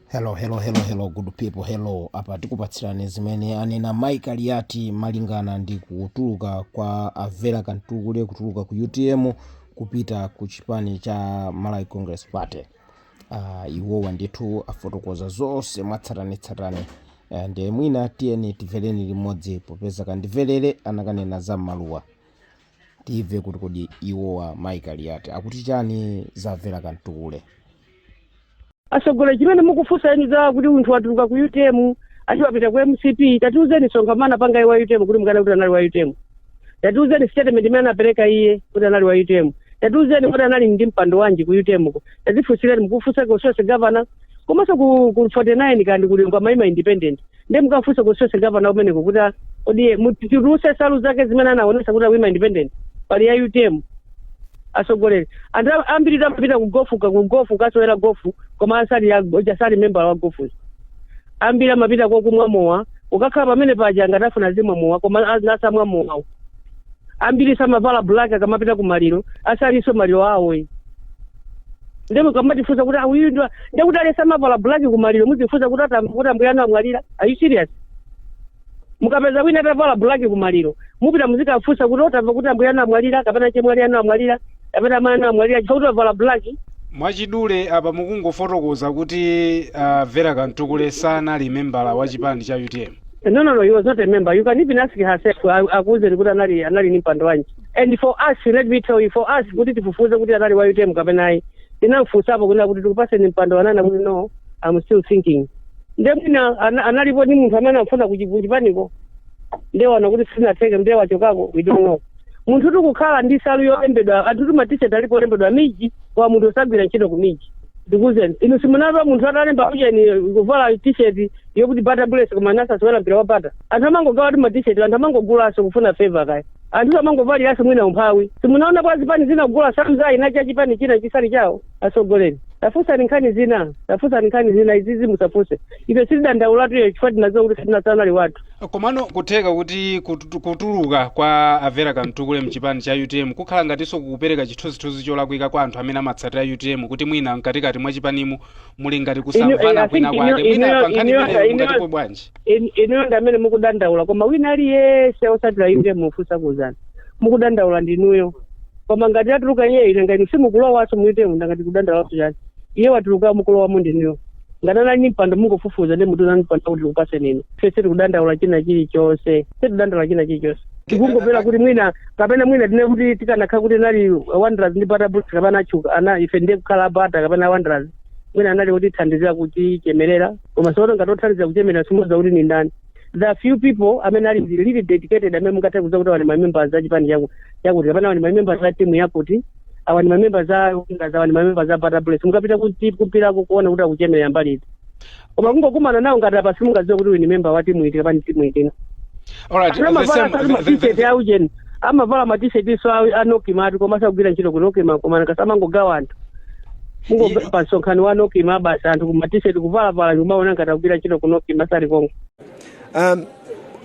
hello hello hello hello good people hello apa tikupatsirani zimene anena mai Kaliati malingana ndi kutuluka kwa a Vera Kamtukule kutuluka ku utm kupita ku chipani cha malawi congress party uh, iwowa ndithu afotokoza zonse mwatsatanetsatane uh, ndiye mwina tiyeni timvereni limodzi popeza kandimverere anakanena za maluwa timve kuti kodi iwowa mai Kaliati akuti chani za a Vera Kamtukule asogoleri chimene mukufunsa eni za kuti munthu watuluka ku utm ati wapita ku mcp tatiuzeni msonkhano anapanga wa utm kuti mukanene kuti anali wa utm tatiuzeni statement imene anapereka iye kuti anali wa utm tatiuzeni kuti anali ndi mpando wanji ku utm ko tatifunsireni mukufunsa ku social governance komanso ku, ku 49 kandikuti amaima independent ndiye mukamfunse ku social governance kumeneko kuti a- kodi iye atitulutsire nsalu zake zimene anaonesa kuti aima independent pali ya utm asogoleri anthu am- ambiritu amapita ku gofu ku gofu kukasewera gofu koma asali ya- ja- sali membala wa gofu ambiri amapita kokumwa mowa ukakhala pamene paja ngati akufuna azimwa mowa koma a- asamwa mowawo ambiri amavala black akamapita ku maliro asalinso maliro awo eh. nde mukamatifunsa kuti awuyu ndo nde kuti alesa amavala black ku maliro muzifunsa kuti atam- kuti ambuye anu amwalira are you serious mukapeza wina atavala black ku maliro mupita muzikafunsa kuti tamva kuti ambuye anu amwalira kapena chemwali anu amwalira kapena amene amwalira chifukwa kuti avala black mwachidule apa mukungofotokoza kuti a Vera Kamtukule sanali membala wa chipani cha utm No, no, no, he was not a member. You can even ask herself, aku- akuuzeni kuti anali anali ni mpando wanji. And for us, let me tell you, for us kuti tifufuze kuti anali wa UTM kapena ayi. Tinamfusapo kunena kuti tikupaseni mpando ananena kuti no, I'm still thinking. Nde mwina ana- analipo ni munthu amene anafuna kuchipaniko. Nde waona kuti sizinatheke, nde wachokako, we don't know. munthutu kukhala ndi nsalu yolembedwa anthutu matisheti alipo olembedwa miji kwa munthu osagwira ntchito ku miji ndikuzeni inu simunamve munthu atalemba kuti chani kuvala tisheti yokuti Bata Bullets koma asasewera mpira wa Bata anthu amangogawatu matisheti anthu amangogulanso kufuna favour kaya anthu amangovaliranso mwina umphawi simunaona kwa zipani zina kugula nsalu za dzina cha chipani china chisali chawo asogoleri tafusani nkhani zina tafusani nkhani zina izizi musafunse ife sitidandaulatu iyo chifukwa tinaziwa kuti sitina- sanali wathu Komano kutheka kuti kutu- kutuluka kwa a Vera Kamtukule mchipani cha utm kukhala ngatinso kukupereka chithunzithunzi cholakwika kwa anthu amene amatsatira utm kuti mwina mkatikati mwa chipanimo muli ngati Inu- eh, kusamvana I kwina think kwake inu- mwina inu- pa nkhani inu- imeneyo inu- mungatinenepo bwanji In- inuyo ndi amene mukudandaula koma wina aliyense osatira inde mufunsa kuzana mukudandaula ndinuyo koma ngati yatuluka iye ine ngati simukulowanso muitemu ndangati kudandaulaso chani iye watuluka mukulowamo ndinuyo ngati nali ndi mpando mungofufuza ndi mtundu wa mpando akuti tikupatseni ine ife sitikudandaula china chilichonse sitikudandaula china chilichonse tikungopempha kuti mwina kapena mwina tinene kuti tikanakhala kuti anali wanderers ndi bata bullets kapena achuka ana ife ndiye kukhala bata kapena wanderers mwina anali kutithandizira kuchemerera koma tsono ngati othandizira kuchemerera simudziwa kuti ni ndani the few people amene ali really dedicated amene mungathe kuuza kuti awa ni mamembers a chipani chaku- chakuti kapena awa ni mamembers a timu yakuti awa ni mamembers a Wanderers, awa ni mamembers a bata bullets mukapita kumpirako kuona kuti akuchemerera mbali iti koma kungokumana nawo ngati apa simungadziwe kuti uyu ni member wa timu iti kapena timu iti alright Kapena the mavara same asati the, the, mafitete the, a ujeni amavala matishetinso a nokima koma sakugwira ntchito ku nokima koma ngati amangogawa anthu mungobwera pa msonkhano wa nokima basi anthu matisheti kuvalavala ndikumaona ngati akugwira ntchito ku nokima sali konko um,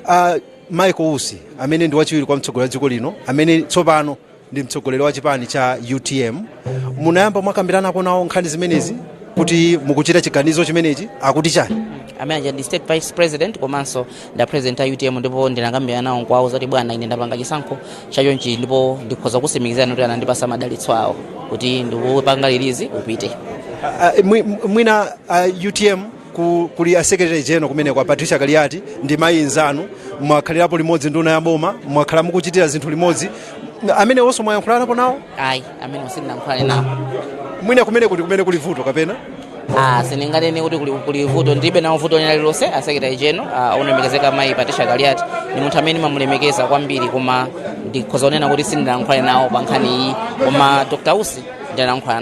uh, michael usi amene ndi wachiwiri kwa mtsogoleri wa dziko lino amene tsopano ndi mtsogoleri wa chipani cha utm munayamba mwakambiranapo nawo nkhani zimenezi kuti mukuchita chiganizo chimenechi akuti chani amene aja ndi state vice president komanso ndi a president a utm ndipo ndinakambirana nawo kwawo zoti bwana ine ndapanga chisankho chachonchi ndipo ndikhoza kutsimikizani kuti anandipatsa madalitso awo kuti ndikupanga release upite Ah, ah, mwi- mwina ah, utm ku, kuli a secretary general kumeneko a patricia kaliati ndi mayi nzanu mwakhalirapo limodzi nduna ya boma mwakhala mukuchitira zinthu limodzi amenewonso mwayankhulanapo nawo ayi amenewo sindinayankhulane nawo mwina kumeneko ndi kumene kuli vuto kapena Ah, sindinganene kuti kuli, kuli vuto ndilibe nawo vuto lina lililonse asekretary general ah, olemekezeka mayi patricia kaliati ni munthu amene ndimamulemekeza kwambiri koma ndikhoza kunena kuti sindinayankhulane nawo pa nkhani iyi koma dr usi ndinayankhulana